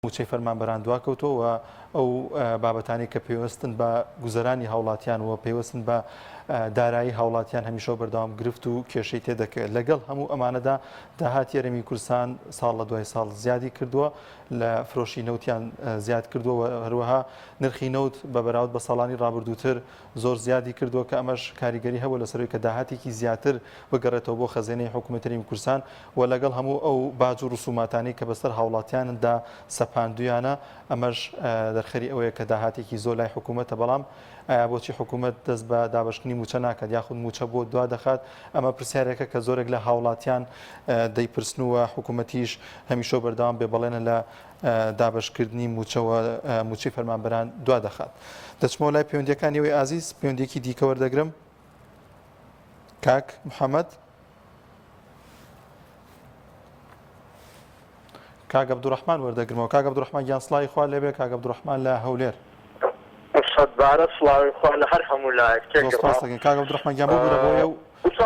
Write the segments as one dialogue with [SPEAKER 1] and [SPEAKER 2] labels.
[SPEAKER 1] مووچەی فەرمانبەران دواکەوتووە و ئەو بابەتانەی کە پەیوەستن بە گوزەرانی هاوڵاتیان و پەیوەستن بە دارایی هاوڵاتیان هەمیشە بەردەوام گرفت و کێشەی تێدەکەوێت لەگەڵ هەموو ئەمانەدا داهاتی یەرەمی کورسان ساڵ لە دوای ساڵ زیادی کردووە لە فرۆشی نەوتیان زیاد کردووە هەروەها نرخی نەوت بە بەراود بە ساڵانی ڕابردووتر زۆر زیادی کردووە کە ئەمەش کاریگەری هەبوو لەسەروی کە داهاتێکی زیاتر بگەڕێتەوە بۆ خەزێنەی حکوومەتەریم کورسان و لەگەڵ هەموو ئەو باج و ڕسوماتانەی کە بەسەر هاوڵاتیاندا سەپاندویانە، ئەمەش دەرخەری ئەوەیە کە داهاتێکی زۆر لای حکومەتە، بەڵام ئایا بۆچی حکومەت دەست بە دابەشکردنی موچە ناکات یاخود موچە بۆ دوا دەخات؟ ئەمە پرسیارێکە کە زۆرێک لە هاوڵاتیان دەیپرسن و حکومەتیش هەمیشەو بەردەوام بێ بەڵێنە لە دابەشکردنی موچەوە موچەی فەرمانبەران دوا دەخات. دەچمەوە لای پەیوەندیەکانی ئەوەی ئازیز پەیوەندیەکی دیکە وەردەگرم. کاک محمد. کاک عبدالرحمن وەردەگرمەوە کاک عبدالرحمن گیان سڵاوی خوا لێبێ کاک عبدالرحمن لە هەولێر سەد
[SPEAKER 2] بارە سڵاوی خوا لە هەر هەموو لایەک تێ دەست خۆش دەکەین کاک عبدالرحمن
[SPEAKER 1] گیان ببورە بۆیە و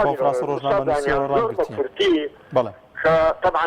[SPEAKER 1] کۆنفرانس ڕۆژنامەنووسیەوە ڕاست گرتین بەڵێ طبعا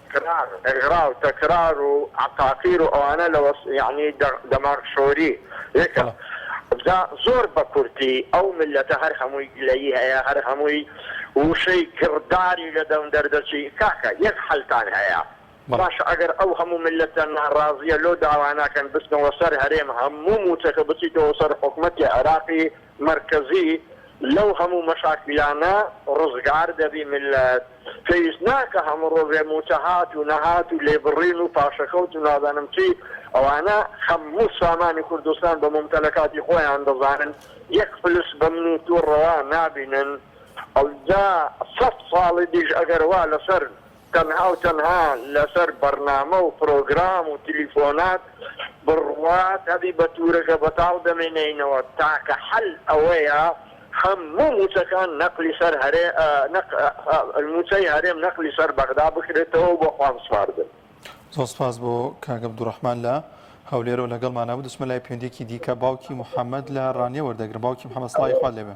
[SPEAKER 2] کران، ئغرا و تکرار و عقاقیر و ئەوانە لە وەس یەعنی دە دەماغ شۆری یەکە بەڵێ. جا زۆر بە کورتی ئەو میللەتە هەر هەمووی گلەیی هەیە هەر هەمووی ووشەی گڕداری لە دەم دەردەچی کاکە یەک حەلتان هەیە بەڵێ. باشە ئەگەر ئەو هەموو میللەتە ناڕازیە لۆ داوا ناکەن بچنەوە سەر هەرێم هەموو موچەکە بچیتەوە سەر حکومەتی عێراقی مەرکەزی لەو هەموو مەشاکیلانە ڕزگار دەبی میللەت پێویست ناکە هەموو ڕۆژێ مووچە هات و نەهات و لێبڕین و پاشەکەوت و نازانم چی ئەوانە هەموو سامانی کوردستان بە مومتەلەکاتی خۆیان دەزانن یەک فلس بە من و تۆ ڕەوا نابینن ئەوجا سەد ساڵی دیش ئەگەر وا لەسەر تەنها و تەنها لەسەر بەرنامە و پرۆگرام و تلیفۆنات بڕوات هەبی بە تورەکە بەتاڵ دەمێنێینەوە تاکە حەل ئەوەیە هەموو موچەکان نەقلی سەر هەرێ نەق موچەی هەرێم نەقلی سەر بەغدا بکرێتەوە بۆ خوان سپاردن. زۆر سپاس
[SPEAKER 1] بۆ کاک عبدالرحمن لە هەولێرەوە لەگەڵمانە بوو دەچمە لای پەیوەندیەکی دیکە باوکی محمد لە ڕانیە وەردەگرم باوکی محمد سڵاوی خوات لێبێ.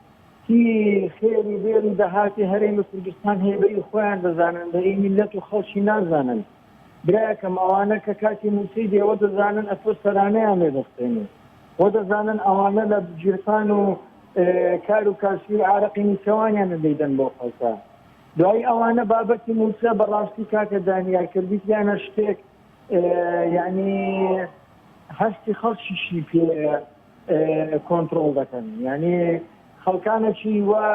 [SPEAKER 3] هی خێر و بێر و دەهاتی هەرێمی کوردستان هەیە بەری خۆیان دەزانن بەری میللەت و خەڵکی نازانن برایەکەم ئەوانە کە کاتی موچەی دێ وە دەزانن ئەتۆ سەرانەیان لێ دەستێنی وە دەزانن ئەوانە لە گیرفان و کار و کاسبی عارەقی نیچەوانیانە دەیدەن بۆ خەڵکە دوایی ئەوانە بابەتی موچە بەڕاستی کاکە دانیار کە بیتیانە شتێک یعنی هەستی خەڵکیشی پێ کۆنتڕۆڵ دەکەن یانی خەڵکانەکی وا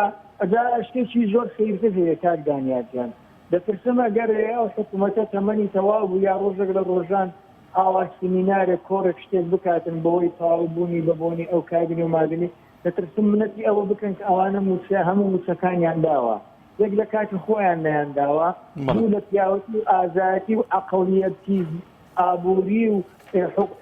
[SPEAKER 3] ئەجا شتێکی زۆر سەیرتر هەیە کاک دانیار گیان دەترسم ئەگەر ئەو حکوومەتە تەمەنی تەواو بوو یا ڕۆژێک لە ڕۆژان ئاوا سمینارێک کۆڕێک شتێک بکاتن بەوەی تەواو بوونی بە بۆنی ئەو کابینی و مابینی دەترسم منەتی ئەوە بکەن کە ئەوانە مووچە هەموو مووچەکانیان داوە یەک لە کاتی خۆیان نیان داوە دوو لە پیاوەتی و ئازایەتی و عەقڵیەتی ئابوری و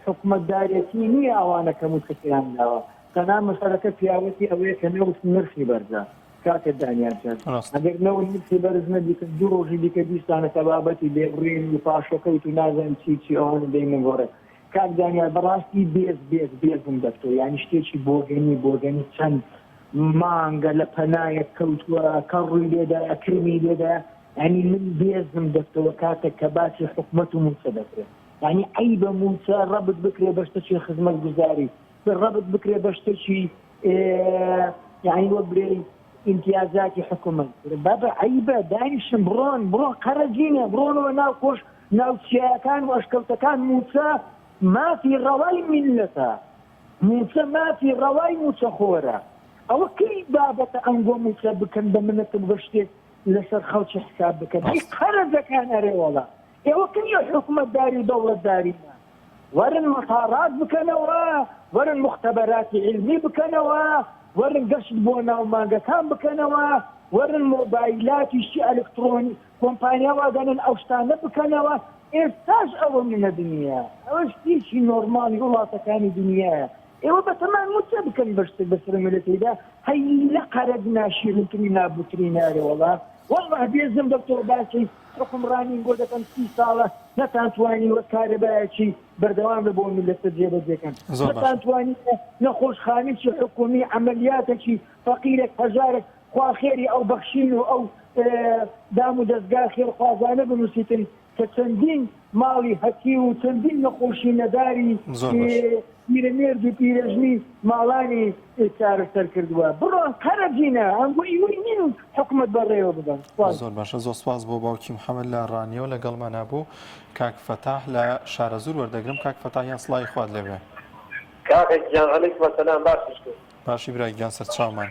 [SPEAKER 3] حوکمەتدارێتی نیە ئەوانە کە موچەکەیان داوە قەنا مەسەلەکە پیاوەتی ئەوەیە کە نەوت نرخی بەرزە کاکە دانیال جان ئەگەر نەوت نرخی بەرز نەبیتن دوو ڕۆژی دیکە بیستانە کە بابەتی لێبڕین و پاشەکەوت و نازان چی چی ئەوانە دەینەگۆڕێ کاک دانیال بەڕاستی بێز بێز بێزم دەتۆ یانی شتێکی بۆگەنی بۆگەنی چەند مانگە لە پەنایەک کەوتووە کە ڕووی لێدایە کرمی لێدایە یانی من بێزم دەتەوە کاتەک کە باسی حکومەت و موچە دەکرێ یانی عەیبە موچە رەبت بکرێ بە شتەکی خزمەت گوزاری رەبت بکرێ بە شتەکی یانی وە برێی ئیمتیازاتی حکومەت بابە عەیبە دانیشن بڕۆن بڕۆن قەرەجینە بڕۆنەوە ناو کۆش ناوچیەکان و ئەشکەوتەکان موچە مافی ڕەوای میلەتە موچە مافی ڕەوای موچەخۆرە ئەوە کەی بابەتە ئەنگۆ موچە بکەن بە منەتم بە شتێک لەسەر خەڵکی حساب بکەن هەی قەرەجەکان ئەرێوەڵا ئێوە کەی لە حکومەتداری و دەوڵەتدارینا وەرن مەتاڕات بکەنەوە وەرن موختەبەراتی عیلمی بکەنەوە وەرن گەشت بۆ ناو مانگەکان بکەنەوە وەرن مۆبایلاتی شتی ئەلکتڕۆنی کۆمپانیا وادانێن ئەو شتانە بکەنەوە ئێستاش ئەوە نەدنیە ئەوە شتێکی نۆرماڵی وڵاتەکانی دنیایە ئێوە بەتەمان موچە بکەن بەشتێک بەسەر ملەتیدا هەی لە قەرەت ناشیرین ترین نابوترین نارێ وەڵا وەڵا بێزم لەو تۆ باسی حکومڕانین بۆ دەکەم سی ساڵە نەتان توانی وە کارەبایەکی بەردەوام لە بۆ ملەتە جێبەجێکەن نەتان توانی نەخۆش خانیی حکومی عملیاتەکی فەقیرێک هەژارێک خواخێری ئەو بەخشین و ئەو دام و دەستگا خێرخوازانە بنووسیتن کە چەندین ماڵی هەتیو و چەندین نەخۆشی نەداری پیرەمێرد و پیرەژنی ماڵانی چارەسەر کردووە. بڕۆن قەرە جینە ئەم بۆ ئیوەی نین و حکومەت بە ڕێوە ببەن. سپاس. زۆر باشە زۆر سپاس
[SPEAKER 1] بۆ باوکی محمد لە ڕانیەوە لەگەڵمانا بوو. کاک فەتاح لە شارەزوور وەردەگرم کاک فەتاح یان سڵاوی خوات لێبێ. کاکە
[SPEAKER 2] گیان علیکم سلام باشیش کرد. باشی برا گیان
[SPEAKER 1] سەرچاومان.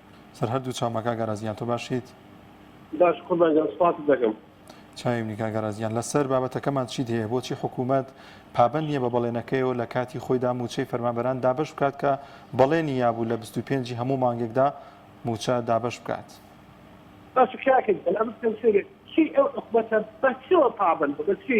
[SPEAKER 4] سەر هەردوو چاوم
[SPEAKER 1] بە کاک ئاراس گیان تۆ باشیت؟ باش
[SPEAKER 4] قوربان گیان سوپاست دەکەم. چاوی منی کاک
[SPEAKER 1] ئاراس گیان. لەسەر بابەتەکەمان چیت هەیە بۆچی حکوومەت پابەند نییە بە بەڵێنەکەیەوە لە کاتی خۆیدا مووچەی فەرمانبەران دابەش بکات کە بەڵێنی یابوو لە بیست و پێنج ی هەموو مانگێکدا مووچە دابەش بکات؟ باشە کاکە گیان ئەمە پێم سەیرە
[SPEAKER 4] چی ئەو حکومەتە بە چیەوە پابەندە بە چی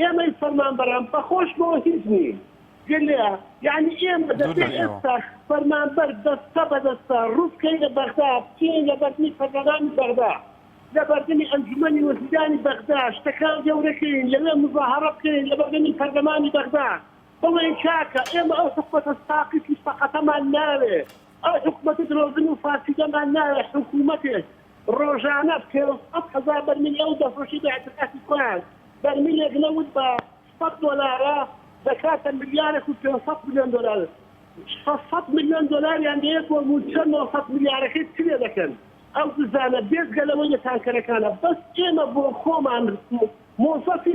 [SPEAKER 4] ئێمەی فەرمانبەران بەخۆش بۆ هیچ نین گوێ لێ یانی ئێمە دەبێ ئێستا فەرمانبەر دەستە بە دەستە ڕووبکەینە بەغدا بچینە لە بەردنی پەرلەمانی بەغدا لە بەردنی ئەنجومەنی وەزیرانی بەغدا شتەکان گەورەکەین لەوێ مزاهەڕە بکەین لە بەردنی پەرلەمانی بەغدا بڵێین کاکە ئێمە ئەو حکومەتە ساقیت و سەقەتەمان ناوێ. ئەو حکومەتە درۆزن و فارسی دەمان ناوێ حکومەتێک ڕۆژانە پێنج سەد هەزار بەرمیل ئێوە دەفرۆشی بە ئیعتقاتی خۆیان بەرمیلێک نەوت بە سەد دۆلارە دەکاتە ملیارێک و پێنج سەد ملیۆن دۆلار شەش سەد ملیۆن دۆلاریان دەیەت بۆ مووچە نۆ سەد ملیارەکەی چ لێ دەکەن ئەو دزانە بێجگە لەوەی لە تانکەرەکانە بەس ئێمە بۆ خۆمان مۆزەفی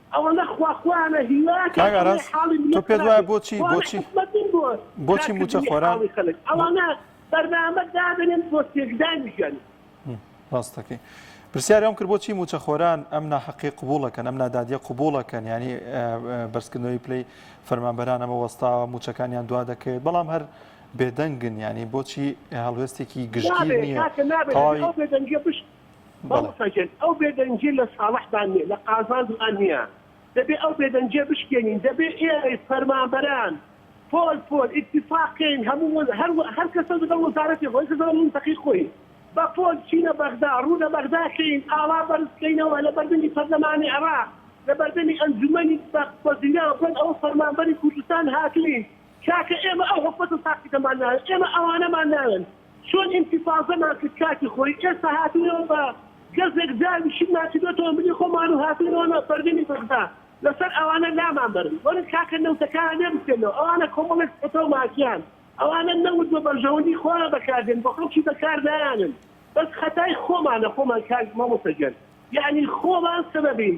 [SPEAKER 4] ئەوەنە خوا خوایانە هیوایەکە کاک ئاراس تۆ
[SPEAKER 1] پێت وایە بۆچی بۆچی بۆچی موچە خۆران ئەوانە
[SPEAKER 4] بەرنامە دادەنێن بۆ
[SPEAKER 1] تێکدانی ژیانی ڕاستەکەی پرسیاری ئەم کرد بۆچی موچەخۆران ئەم ناحقی قوبوڵەکەن ئەم نادادیە قوبوڵەکەن ینی بەرزکردنەوەی پلی فەرمانبەران ئەمە وەستاوە موچەکانیان دوا دەکەوێت بەڵام هەر بێدەنگن ینی بۆچی هەڵوێستێکی گشتی نیە
[SPEAKER 4] مامۆستا گیان ئەو بێدەنگیە لە ساڵحدا نیە لە قازانجدا نیە دەبێ ئەو بێدەنگیە بشکێنین دەبێ ئێمەی فەرمانبەران پۆل پۆل ئیتیفاق کەین هەموو وە هەر وە هەر کەسە لەگەڵ وەزارەتی خۆی کەسە لەگەڵ مەنتەقەی خۆی بە پۆل چینە بەغدا ڕوو لە بەغدا کەین ئاڵا بەرز کەینەوە لە بەردەمی پەرلەمانی عێڕاق لە بەردەمی ئەنجومەنی بە وەزیران بڵێن ئەوە فەرمانبەری کوردستان هاتووین کاکە ئێمە ئەو حکومەتە ساقیتەمان ناوێت ئێمە ئەوانەمان ناوێن چۆن ئینتفازەمان کرد کاتی خۆی ئێستا هاتوینەوە بە گەزێک زاوی شتمان کردوە تۆمبلی خۆمان و هاتوینەوە ناو پەردەنی بەغدا لەسەر ئەوانە لامان بەرن وەرن کاکە نەوتەکانە لێ بسێنەوە ئەوانە کۆمەڵێک چەتەو مافیان ئەوانە نەوت بە بەرژەوەندی خۆیان بەکاردێن بۆ خەڵکی بەکار نایانن بەس خەتای خۆمانە خۆمان کاک مامۆستا گیان یەعنی خۆمان سەبەبین.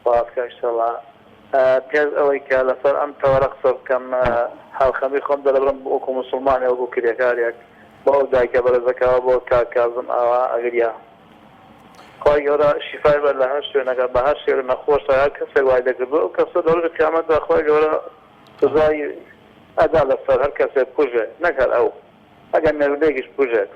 [SPEAKER 1] سپاس کاک
[SPEAKER 2] شەلا. پێش ئەوەی کە لەسەر ئەم تەوەرە قسە بکەم، هاوخەمی خۆم دەربڕم وەکو موسڵمانێ وەکو کرێکارێک بۆ ئەو دایکە بەرێزەکەوە بۆ کاک کازم ئاوا ئەگریا. خوای گەورە شیفای بەر لە هەر شوێنەگە بە هەر شێوەی نەخۆشە هەر کەسێک وای دەکردو ئەو کەسە لە ڕۆژی قیامەتدا خوای گەورە سزای ئەدا لەسەر هەر کەسێ بکوژێ نەک هەر ئەو. ئەگەر مێردێکیش بکوژێت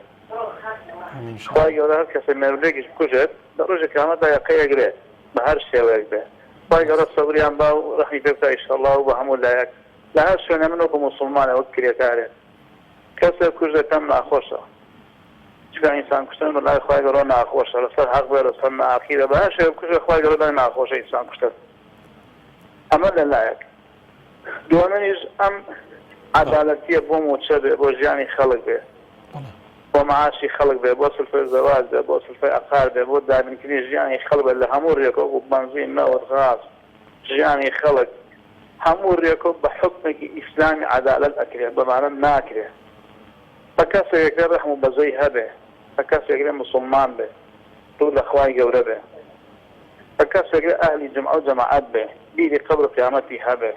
[SPEAKER 2] خوای گەورە هەر کەسێ مێردێکیش بکوژێت لە ڕۆژی قیامەتدا یەقەی ئەگرێ بە هەر شێوەیەک بێ خوای گەورە سەبریان با و ڕەحمی پێ بکا ئیشەڵا و بە هەموو لایەک لە هەر شوێنێ من وەکوو موسوڵمانێ وەک کرێکارێک کەسێ بکوژێ پێم ناخۆشە چونکە ئینسان کوشتن بە لای خوای گەورە ناخۆشە لە سەر حەق بێ لە سەر ناحەقی بێ بە هەر شێوەیەک بکوژێ خوای گەورە لای ناخۆشە ئینسان کوشتن ئەمە لە لایەک. دوەمەنیش ئەم عەدالەتیە بۆ موچە بێ بۆ ژیانی خەلک بێ بۆ معاشی خەلک بێ بۆ سلفەی زەواج بێ بۆ سلفەی عەقار بێ بۆ دابینکردنی ژیانی خەلک بێ لە هەموو رێک وەکو بەنزین نەوت غاز ژیانی خەلک هەموو رێک و بە حوکمێکی ئیسلامی عەدالەت ئەکرێ بەمانە ناکرێ بە کەسێک ئەکرێ رەحم و بەزەی هەبێ بە کەسێک ئەکرێ موسلمان بێ روو لە خوای گەورە بێ. هەر کەسێک لە ئەهلی جومعەو جەماعەت بێ بیری قەبرو قیامەتی هەبێ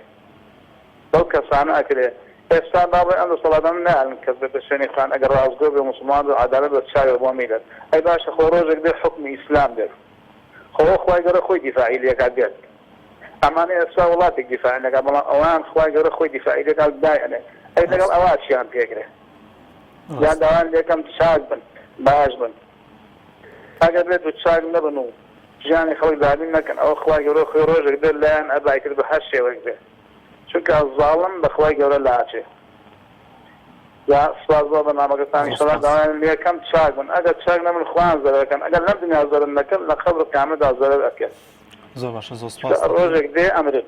[SPEAKER 2] بەو کەسانە ئەکرێ ئێستا با بڵێن ئەم دەسەڵاتانە نایەلن کەس بێتە شوێنی خان ئەگەر ڕاستگۆ بێ موسڵمان بێ و عەدالەت بە چاوێ بۆ میلەت ئەی باشە خۆ ڕۆژێک دێ حوکمی ئیسلام دێت خۆ ئەو خوای گەورە خۆی دیفاعی لێکات دێت ئەمانە ئێستا وڵاتێک دیفاعیان لێکات بەڵام ئەوان خوای گەورە خۆی دیفاعی لێکات و دایەنێ ئەی لەگەڵ ئەوا چیان پێکرێ جا داوایان لێکەم چاک بن باش بن. ئەگەر بێت و چاک نەبن و ژیانی خەڵک زالیم نەکەن ئەوە خوای گەورە خۆی ڕۆژێک دێت لایان ئەبا ئیتر بە هەر شێوەیەک بێت چونکە زاڵم بە خوای گەورە لاچێ جا سپاس بۆ بەرنامەکەتان زۆر ئیشەڵا سپاس داوایان لێکەم چاک بن ئەگەر چاک نەبن خۆیان زەرەرەکەن ئەگەر لەم دنیا زەرەر نەکەن لە قەبر و قیامەتدا زەرەر ئەکەن زۆر باشە
[SPEAKER 1] زۆر سپاستان ڕۆژێک دێ ئەمرن.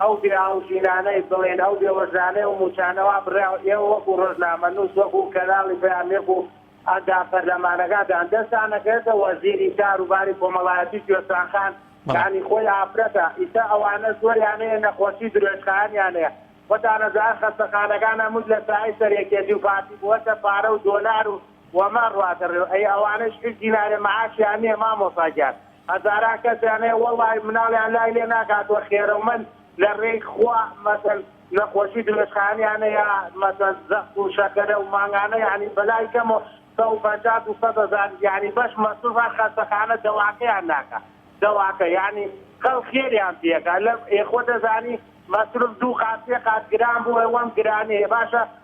[SPEAKER 5] ئەو بێ ئاوژینانەی بڵێن ئەو بێ وەژانەی و موچانە وا بڕیاو ئێوە وەکو ڕۆژنامە نوس وەکو کەناڵی پەیام یەکو ئەندام پەرلەمانەکانتان دەستان ئەکەوێتە وەزیری کار و باری کۆمەڵایەتی کوێستان خان یانی خۆی ئافرەتە ئیسە ئەوانە زۆریان هەیە نەخۆشی درۆێژخایەنیان هەیە خۆتان ئەزان خەستەخانەکان هەمووش لە سایەی سەر یەکێتی و پارتی بووەتە پارە و دۆلار و وەمان ڕادەڕێ ئەی ئەوانەش هیچ دینارێ معاشیان نیە مامۆسا گیان هەزاران کەسیان هەیە وەڵا مناڵیان لای لێ ناکاتوە خێرەومەند لە ڕێی خوا مەسەن نەخۆشی درێژخایەنیان هەیە مەسەن زەخت و شەکەرە و مانگانە یانی بەلای کەمەوە سەد و پەنجا دوو سەد هەزار یانی بەش مەسروف هەر خەستەخانە دەواکەیان ناکا دەواکە یانی خەڵک خێریان پێکا لە ئێ خۆ دەزانی مەسروف دوو قات سێ قات گران بووە وەم گرانیە باشە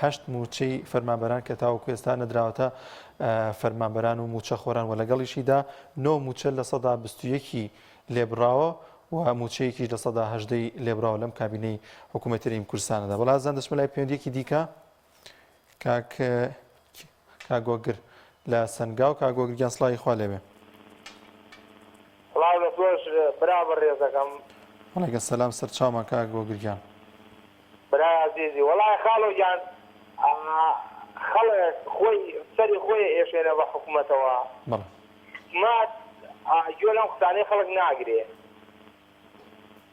[SPEAKER 1] هەشت مووچەی فەرمانبەران کە تاوەکو ئێستا نەدراوەتە فەرمانبەران و مووچەخۆران و لەگەڵیشیدا نۆ مووچە لە سەدا بیست و یەکی لێبڕاوە و مووچەیەکیش لە سەدا هەژدەی لێبڕاوە لەم کابینەی حکوومەتی رژیم کوردستانەدا بەڵام زان دەچمە لای پەیوەندییەکی دیکە کاک کاک گۆگر لە سەنگاو. کاک گۆگر گیان سڵاوی خوا لێبێ. سڵاو لە
[SPEAKER 6] تۆش برا بەڕێزەکەم. وعلیکم سلام
[SPEAKER 1] سەرچاومان کاک گۆگر گیان.
[SPEAKER 6] برای ئازیزی وەڵای خاڵۆ گیان خەڵک خۆی سەری خۆی ئەیەشێنێ بە حکومەتەوە بەڵێ حکومەت گوێ لەم قسانەی خەڵک ناگرێ.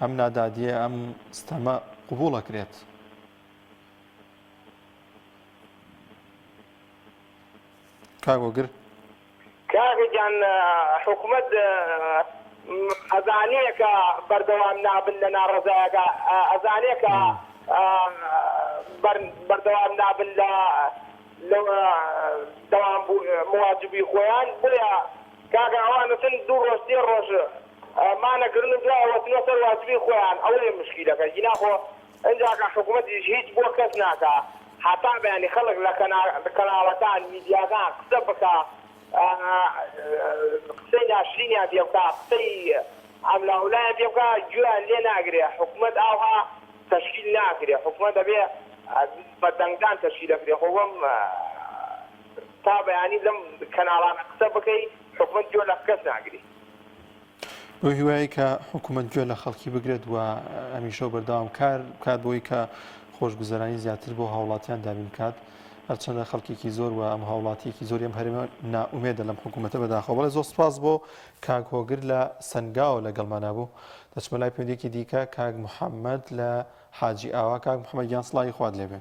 [SPEAKER 1] ئەم نادادییە ئەم ستەمە قبوڵ ئەکرێت. کاک وەگر.
[SPEAKER 6] کاکە گیان حکومەت ئەزانێ کە بەردەوام نابن لە ناڕەزایەکە ئەزانێ کە بەردەوام نابن لە لە دەوام بوو مواجبی خۆیان بۆیە کاکە ئەوان ئەچن دوو ڕۆژ سێ ڕۆژ مانە گرن و دوای ئەوەتنە سەر واجبی خۆیان ئەوەیە مشکیلەکە گینا خۆ ئینجا کە حکومەتیش هیچ بۆ کەس ناکا هەتا بەیانی خەڵک لە کەنا کەناڵەکان میدیاکان قسە بکا قسەی ناشرینیان پێ بکا قسەی ئەملا ولایا پێ بکا گوێیان لێ ناگرێ حکومەت ئاوها تەشکیل ناکرێ حکومەت ئەبێ بە دەنگدان تەشکیل ئەکرێ خۆ بەم تا بەیانی لەم کەناڵانە قسە بکەی حکومەت
[SPEAKER 1] گوێ لە کەس ناگری. بەو هیوایەی کە حکومەت گوێ لە خەڵکی بگرێت و هەمیشە و بەردەوام کار بکات بۆی کە خۆشگوزەرانی زیاتر بۆ هاوڵاتیان دابین بکات هەرچەندە خەڵکێکی زۆر و ئەم هاوڵاتیەکی زۆر ئەم هەرێمە ناومێدە لەم حکوومەتە بەداخەوە بەڵێ زۆر سپاس بۆ کاک هۆگر لە سنگاوە لەگەڵمانە بوو دەچمە لای پێندێکی دیکە کاک محەممەد لە حاجی ئاوا کاک محەممەد گیان سڵاوی خوارد لێبێ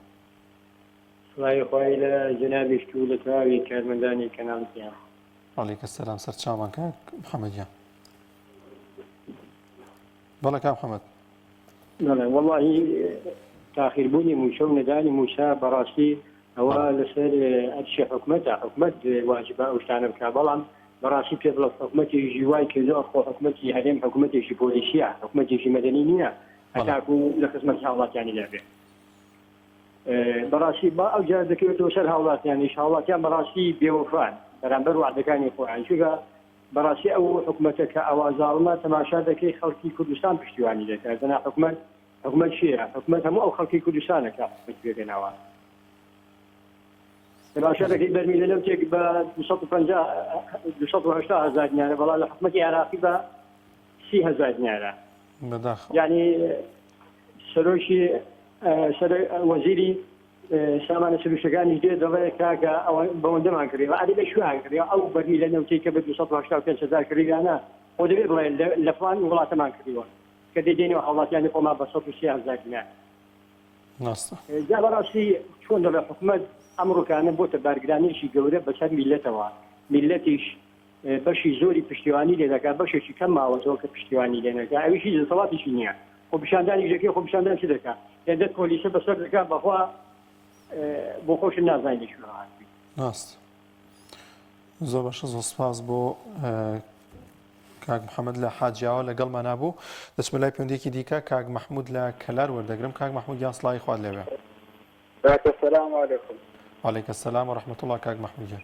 [SPEAKER 7] سڵاوی خوای لە جەنابیشت و لە تەواوی کارمەندانی کەناڵ گیان. وعلیک
[SPEAKER 1] سلام سەرچاومان کاک محمد گیان. بەڵێ کاک محمد. بەڵێ
[SPEAKER 7] وەڵاهی تاخیربوونی مووچە و نەدانی مووچە بەڕاستی ئەوە لەسەر ئەرشی حکومەتە حکومەت واجبە ئەو شتانە بکە بەڵام بەڕاستی پێ بڵە حکومەتێژی وای کردو ئەخۆ حکومەتی هەرێم حکومەتێکی پۆلیسیە حکومەتێکی مەدەنی نییە هەتاکو لە خزمەتی هاوڵاتیانی دابێت. بەڕاستی با ئەو جارە دەکەوێتەوە سەر هاوڵاتیانیش هاوڵاتیان بەڕاستی بێوەفان بەرامبەر وەعدەکانی خۆیان چونکە بەڕاستی ئەو حکومەتە کە ئاوا زاڵمە تەماشا دەکەی خەڵکی کوردستان پشتیوانی دەکات دەنا حکومەت حکومەت چیە حکومەت هەموو ئەو خەڵکی کوردستانە کە حکومەت پێگەناوە تەماشا دەکەی بەرمیلە لەو تێک بە 250 هزار دینارە بەڵام لە حکومەتی عێراقی بە سی هەزار دینارە بەداخەوە. یانی سەرۆکی سەرۆ وەزیری سامانە سروشتەکانیش دێ دەڵێ کاکە ئەوە بەوەندەمان کڕیوە ئەدی لە کوێیان کڕیوە ئەو بەرمیلە نەوتەی کە بە دوو سەد و هەشتا و پێنج هەزار کڕیویانە خۆ دەبێ بڵێ لە فڵان وڵاتەمان کڕیوە کە دێ دێنێ هاوڵاتیانی خۆمان بە سەد و سی هەزار دینار ڕاستە. جا بەڕاستی چۆن دەڵێ حکومەت ئەم ڕووکانە بۆتە بارگرانییەکی گەورە بەسەر میللەتەوە میللەتیش بەشی زۆری پشتیوانی لێ دەکات بەشێکی کەم ماوەتەوە کە پشتیوانی لێ نەکا ئەویش هیچ دەسەڵاتیشی نیە خۆ پیشاندانی دەکەی خۆ پیشاندان چ دەکا هێندە کۆلیسە بەسەر دەکا بەخوا بۆ خۆشت
[SPEAKER 1] نازانی لە کوێوە هاتووی. ڕاست زۆر باشە زۆر سپاس بۆ کاک محەممەد لە حاجیاوە لەگەڵمانە بوو دەچمە لای پەندێکی دیکە کاک مححمود لە کەلار وەردەگرم کاک مححمود یان سڵاوی خوارد لەوێ سلام
[SPEAKER 8] علیکم. وعلیک السلام
[SPEAKER 1] ورحمة الله کاک محمود گیان.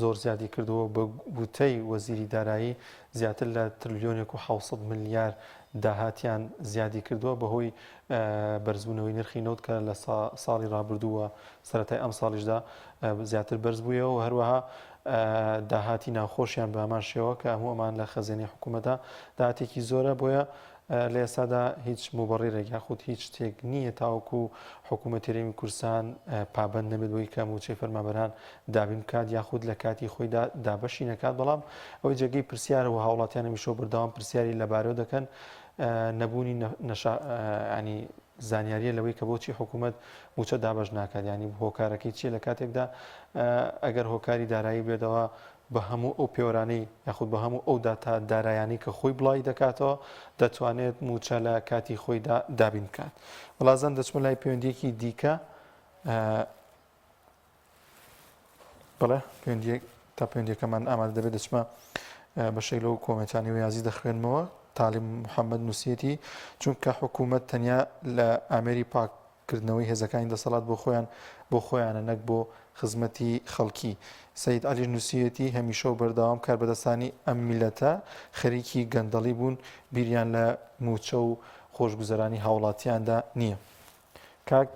[SPEAKER 1] زۆر زیادی کردووە و بە گوتەی وەزیری دارایی، زیاتر لە ترلیۆنێک و حەوت سەد ملیار داهاتیان زیادی کردووە بەهۆی بەرزبوونەوەی نرخی نەوت کە لە ساڵی رابردوو و سەرەتای ئەمساڵیشدا زیاتر بەرز بوویەوە و هەروەها داهاتی ناوخۆشیان بە هەمان شێوە کە هەموو ئەمان لە خەزێنەی حکوومەتدا داهاتێکی زۆرە بۆیە لە ئێستادا هیچ موبەڕیرێک یاخود هیچ شتێک نییە تاوەکو حکوومەتی رێوی کورسان پابند نەبێت بۆی کە موچەی فەرمابەران دابین بکات یاخود لە کاتی خۆیدا دابەشی نەکات بەڵام ئەوەی جێگەی پرسیارە و هاوڵاتیانە میشۆ بردەوام پرسیاری لەبارەوە دەکەن نەبوونی نەشانی زانیاریە لەوەی کە بۆچی حکوومەت موچە دابش ناکات ینی هۆکارەکەی چیە لە کاتێکدا ئەگەر هۆکاری دارایی بێتەوە بە هەموو ئەو پێوەرانەی یاخود بە هەموو ئەو داتا دارایانەی کە خۆی بڵاوی دەکاتەوە دەتوانێت مووچە لە کاتی خۆیدا دابین بکات بەڵازان دەچمە لای پەیوەندیەکی دیکە بڵێ پێندێک تا پێندێکەمان ئامادە دەبێت دەچمە بەشێک لەو کۆمەتانی و یازی دەخوێنمەوە تالیم محەممەد نووسەتی چونکە حکوومەت تەنیا لە ئامێری پاک کردنەوەی هێزەکانی دەسەڵات بۆ خۆیان بۆ خۆیانە نەک بۆ خزمەتی خەڵکی. سەید عەلیش نووسیویەتی، هەمیشە و بەردەوام کاربەدەستانی ئەم میللەتە خەریکی گەندەڵی بوون، بیریان لە مووچە و خۆشگوزەرانی هاوڵاتیاندا نییە. کاک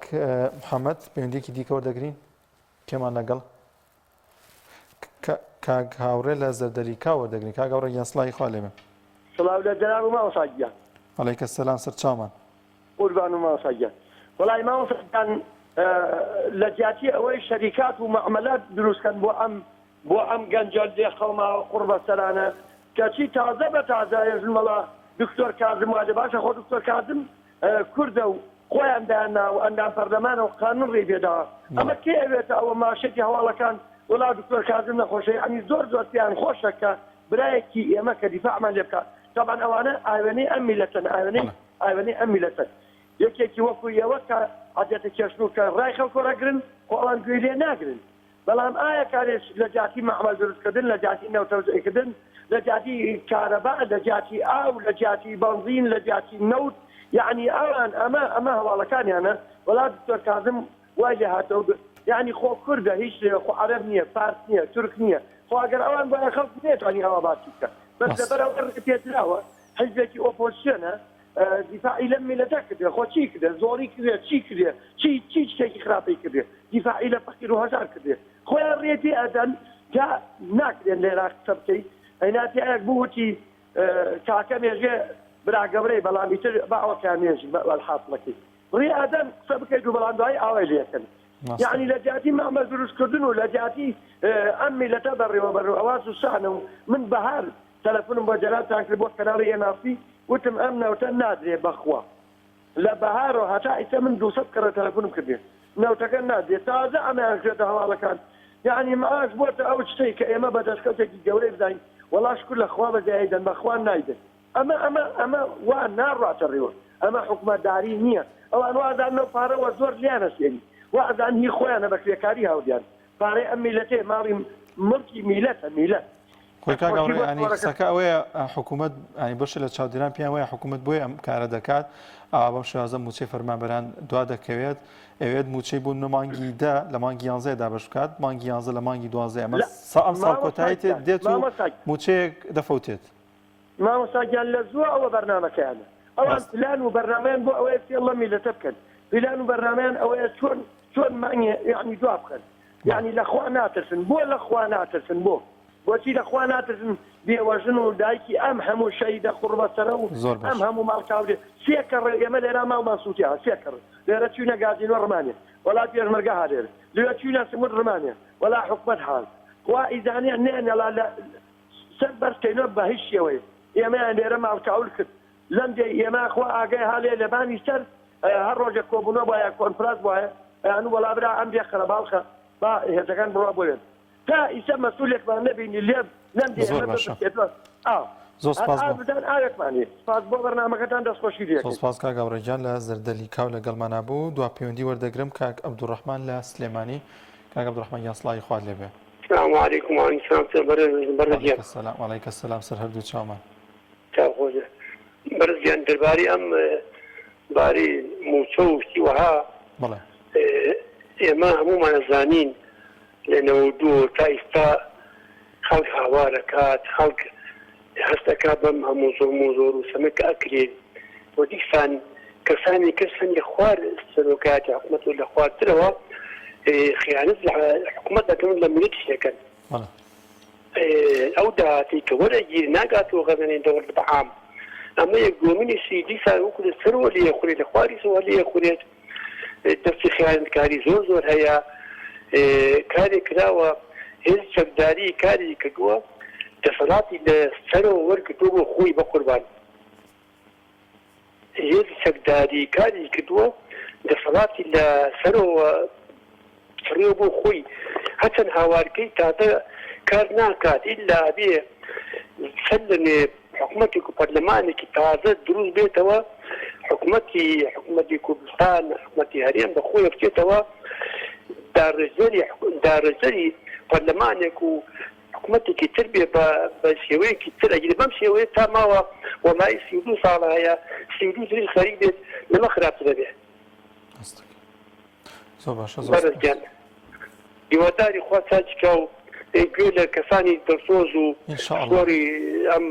[SPEAKER 1] محەمەد، پەیوەندییەکی دیکە وەردەگرین؟ کێمان لەگەڵ؟ کاک هاوڕێ لە زەردەریکا وەردەگرین کاک هاوڕێ گیان سڵاوی خوا لێبێ. سڵاو لە جەناب
[SPEAKER 5] و مامۆسا گیان. علیک سلام
[SPEAKER 1] سەرچاومان. قوربان
[SPEAKER 5] و مامۆسا گیان وەڵای مامۆسا گیان لە جیاتی ئەوەی شەریکات و مەعمەلە دروست کەن بۆ ئەم بۆ ئەم گەنجە لێ قەوماوە قوڕ بە سەرانە کەچی تازە بە تازە ئێژن مەڵا دکتۆر کازم وادێ باشە خۆ دکتۆر کازم کوردە و خۆیان دایان نا و ئەندام پەرلەمانە و قانون ڕێی پێ داوە ئەمە کێ ئەوێتە ئەوە ماشێتی هەواڵەکان وەڵا دکتۆر کازم نەخۆشە یەعنی زۆر زۆر پێیان خۆشە کە برایەکی ئێمە کە دیفاعمان لێ بکات تەبعەن ئەوانە ئاوێنەی ئەم میلەتن ئاوێنەی ئاوێنەی ئەم میلەتن یەکێکی وەکو ئێوە کە عەدێتە کێشن و کە ڕای خەڵکۆ ڕەگرن خۆ ئەوان گوێی لێ ناگرن بەڵام ئایا کارێک لە جیاتی مەعمەل دروستکردن، لە جیاتی نەوت تەوزیعکردن، لە جیاتی کارەبا، لە جیاتی ئاو، لە جیاتی بەنزین، لە جیاتی نەوت، یەعنی ئەوان ئەمە ئەمە هەواڵەکانیانە، وەڵا دکتۆر کازم وای لێ هاتەوە گوت یەعنی خۆ کوردە هیچ لێ خۆ عەرەب نییە فارس نییە تورک نییە خۆ ئەگەر ئەوان بوایە خەڵک نەیەتوانی ئەوا باسی بکا بەس لەبەر ئەوە ڕێ پێدراوە حیزبێکی ئۆپۆزسیۆنە دیفاعی لەم میلەتە کردێ خۆ چی کردێ زۆری کردێ چی کردێ چی چی شتێکی خراپی کردێ دیفاعی لە فەقیر و هەژار کردێ خۆیان ڕێ تێ ئەدەن جا ناکرێن لە عێراق قسە بکەی ئەینا پیاوێک بووتی کاکە مێژێ برا گەورەی بەڵام ئیتر با ئەوەکە مێژ وەلحاسڵەکەی ڕێ ئەدەن قسە بکەیت و بەڵام دوایی ئاوای لێکەن یعنی لە جیاتی مامەل دروستکردن و لە جیاتی ئەم میلەتە بەڕێوەبەر و ئەوە زوسانە و من بەهار تەلەفونم بۆ جەنابتان کرد بۆ کەناڵی ئێن ئاڕ سی وتم ئەم نەوتە نادرێ بەخوا لە بەهارۆ هەتا ئیسە من دوو سەد کەڕە تەلەفونم کردێ نەوتەکە
[SPEAKER 9] نادرێ تازە ئەمەیان کردۆتە هەواڵەکان یانی معاش بۆتە ئەو شتەی کە ئێمە بە دەسکەوتێکی گەورەی بداین وەڵا شکور لە خوا بە زایەی دەن بەخوا نایدن ئەمە ئەمە ئەمە وا ناڕاتە ڕێوە ئەمە حوکمە داری نیە ئەوان وازانن ئەو پارە وە زۆر لیانە سێری وازان هی خۆیانە بە کرێکاری هاوریان پارەی ئەم میلەتەیە ماڵی مڵکی
[SPEAKER 1] میلەتە میلەت خۆی کاک ئەوڕێ ینی قسەکە ئەوەیە حکوومەت ینی بەشە لە چاودێران پێیان وایە حکوومەت بۆی ئەم کارە دەکات ئا بەم شازە موچەی فەرمانبەران دوا دەکەوێت ئەوێت موچەی بوون لە مانگی دا لە مانگی یانزای دابش بکات مانگی یانزە لە مانگی دوازە ئەمە سا ئەم ساڵ کۆتایی تێت دێت و موچەیەک دەفەوتێت. مامۆستا
[SPEAKER 9] گیان لە زووە ئەوە بەرنامەکەیانە ئەوان پلان و بەرنامەیان بۆ ئەوەیە فێڵ لەم میلەتە بکەن پیلان و بەرنامەیان ئەوەیە چۆن چۆن مانگێ یانی دوا بخەن یانی لە خوا ناترسن بۆ لە خوا ناترسن بۆ بۆچی لە خوا ناترسن بێوەژن و دایکی ئەم هەموو شەیدە قوڕبەسەرە و ئەم هەموو ماڵکاولێ سێ کەڕێ ئێمە لێرا ماڵمان سووتێ سێ کەڕ لێرە چوینە گازینۆ ڕمانێ وەڵا پێشمەرگە هەرێر لێرە چوینە سموت ڕمانێ وەڵا حکومەت حاز خوا ئیزانێ نێ نەڵا لە سەر بەر کەینۆ بە هیچ شێوەیەک ئێمەیان لێرە ماڵکاول کرد لەم دێی ئێمە خوا ئاگای هالێ لە بانی سەر هەر ڕۆژێک کۆبونە بایە کۆنفراس بایە ئەیانو وەڵا برا ئەم دێ خەرە باڵخە با هێزەکان بڕا بۆێن تا ئیسە مەسولێکمان نەبینی لێ لەم دێ ئێمە بەسێتوە
[SPEAKER 1] ئاو زۆر سپاس بۆ بدان ئاوێکمانی
[SPEAKER 9] سپاس بۆ بەرنامەکەتان دەست خۆشی لێ زۆر سپاس کاک ئاوڕێ گیان لە
[SPEAKER 1] زەردەلی کاو لە گەڵمانابوو دوا پەیوەندی وەردەگرم کاک عبدالرحمن لە سلێمانی کاک عبدالرحمن گیان سڵاوی خوات لێ بێ. سلام علیکم وعلیکم
[SPEAKER 10] سلام چۆن بەڕێزم
[SPEAKER 1] بەڕێز گیان. وعلیک السلام سەر هەردوو چاومان. چاو خۆش
[SPEAKER 10] بێ بەڕێز گیان دەربارەی ئەم باری موچە و شتی وەها بەڵێ ئێمە هەموومان ئەزانین لە نەوەد و دوو تا ئیستا خەڵک هاوار ئەکات خەڵک هەست ئەکا بەم هەموو زوڵم و زۆر و سەمە کە ئەکرێ و دیسان کەسانی تر سەنگی خوار سەرۆکایەتی حکومەت و لە خوارترەوە خیانەت لە حکومەت ئەکەن و لە میللەتیش ئەکەن ئەو داهاتەی کە وەرئەگیرێ ناگاتەوە غەزەنەی دەوڵەت بە عام ئەمە یەک دووەمینیشی دیسان وەکو لە سەرەوە لێ ئەخورێ لە خواریشەوە لێ ئەخورێت. دەستی خیانەتکاری زۆر زۆر هەیە کارێک کراوە هێزی چەکداری کاری کردووە دەسەڵاتی لە سەرەوە وەرگرتووە بۆ خۆی بەقوربان هێزی چەکداری کاری کردووە دەسەڵاتی لە سەرەوە فڕێو بۆ خۆی هەچەند هاوارکەی تادە کار ناکات ئیلا ئەبێ سەر لەنوێ حکومەتێک و پەرلەمانێکی تازە دروست بێتەوە حکومەتی حکومەتی کوردستان حکومەتی هەرێم بە خۆیە بچێتەوە داڕێژەری داڕێژەری پەرلەمانێک و حکومەتێکی تر بێ بە بە شێوەیەکی تر ئەگیری بەم شێوەیە تا ماوە وەمای سی و دوو ساڵە هەیە سی و دوو تریش خەریک بێت لەمە خراپتر دەبێ. بەڕێز گیان هیواداری خوا چاکی کا و گوێ لە کەسانی دڵسۆز و پسپۆری ئەم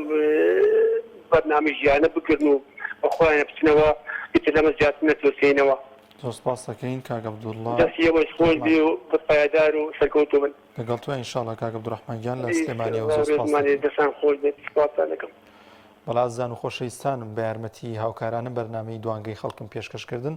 [SPEAKER 10] بەرنامەژیانە بگرن و بە خۆیانە بچنەوە ئیتر لەمە زیاتر نەترسێینەوە. زۆر سپاس
[SPEAKER 1] دەکەین کاک عەبدوڵا. دەستی ئێوەش خۆش بێ و
[SPEAKER 10] پایەدار و سەرکەوتوو بن. لەگەڵ توین ان شاءاللە
[SPEAKER 1] کاک عەبدولرەحمان گیان لە سلێمانیەوە زۆر سپاس دەکەین. هەربژیت دەستان خۆش
[SPEAKER 10] بێت سپاستان دەکەم. بەڵێ ئازیزان و
[SPEAKER 1] خۆشەویستانم بە یارمەتیی هاوکارانە بەرنامەی دوانگەی خەڵکم پێشکەش کردن.